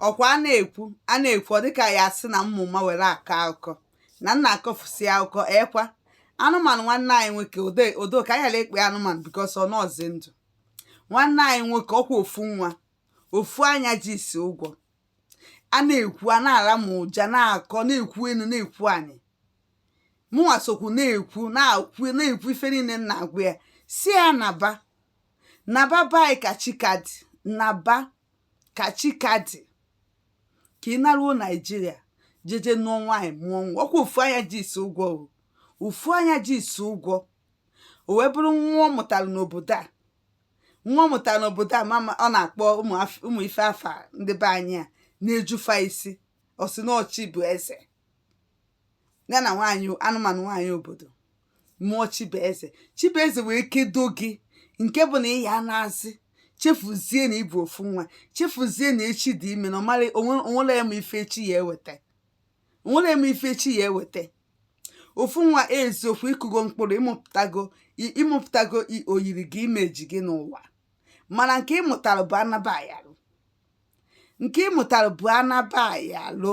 ọkwa a na-ekwu a na-ekwu ọ dịka a ya-asị na m ma ụma were akọ akụkọ na m na-akọfusi akụkọ ọkwa anụmanụ nwanne anyị nwoke ode odo ka anyị ghara ikpe anụmanụ because ọ nọọzi ndụ nwanne anyị nwoke ọkwa ofu nwa ofu anya ji isi ụgwọ a na-ekwu a na-ara m ụja na-akọ na-ekwu enu na-ekwu anị mụnwa sokwu na-ekwu na-ekwu na-ekwu ife niile m na-agwa ya si ya naba naba be anyị ka chi ka dị naba ka chi ka dị ka ị naruo naijiria jeje nụọ nwaanyị mụọ nwa ọkwa ofu anya ji isi ụgwọ o ofu anya ji isi ụgwọ o wee bụrụ nwa ọ mụtara n'obodo a nwa ọ mụtara n'obodo a mama ọ na-akpọ ụmụ af- ụmụ ife afa ndị be anyị ana-eju fa isi ọ sị na ọ Chibueze ya na nwaanyị anụmanụ nwaanyị obodo mụọ Chibueze Chibueze wee kedo gị nke bụ na ị ya-anazi chefuzie na ịbụ ofu nwa chefuzie na echi dị ime na ọmara o nwerọ onye ma ife echi ya eweta o nwerọ onye ma ife echi ya eweta ofu nwa eziokwu ịkụgo mkpụrụ ịmụpụtago ịmụpụtago oyiri gị imeji gị n'ụwa mana nke ịmụtara bụ anaba ayarụ nke ịmụtara bụ anaba ayarụ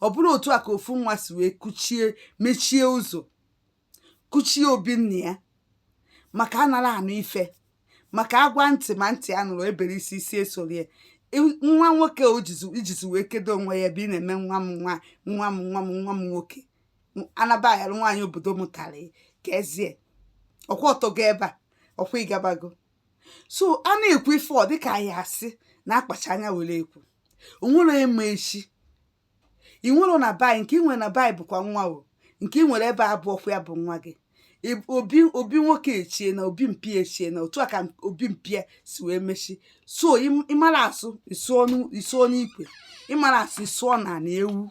ọ bụrụ otu a ka ofu nwa si wee kuchie mechie ụzọ kuchie obi nna ya maka anarọ anụ ife maka agwa ntị ma ntị anụrọ e bere isi isi esorie nwa nwoke o jizi ijizi wee kedo onwe ya ebe ị na-eme nwa m nwa nwa m nwa m nwa m nwoke anaba ayarụ nwaanyị obodo mụtara ya ka ezie ọkwa ọtọgo ebe a ọkwa ịgabago so a na-ekwu ife ọ dịka a ya-asị na akpacha anya were ekwu o nwerọ ma echi ị nwere na be anyị nke ị nwere na be anyị bụkwa nwa o nke ị nwere ebe a bụ ọkwa ya bụ nwa gị Ị- obi obi nwoke echie na obi mpa ya echie na otu a ka obi mpa ya si wee mechi so ị- ịmara asụ ịsụọ n'u- ịsụọ n'ikwe ịmarọ asụ ịsụọ n'ana ewu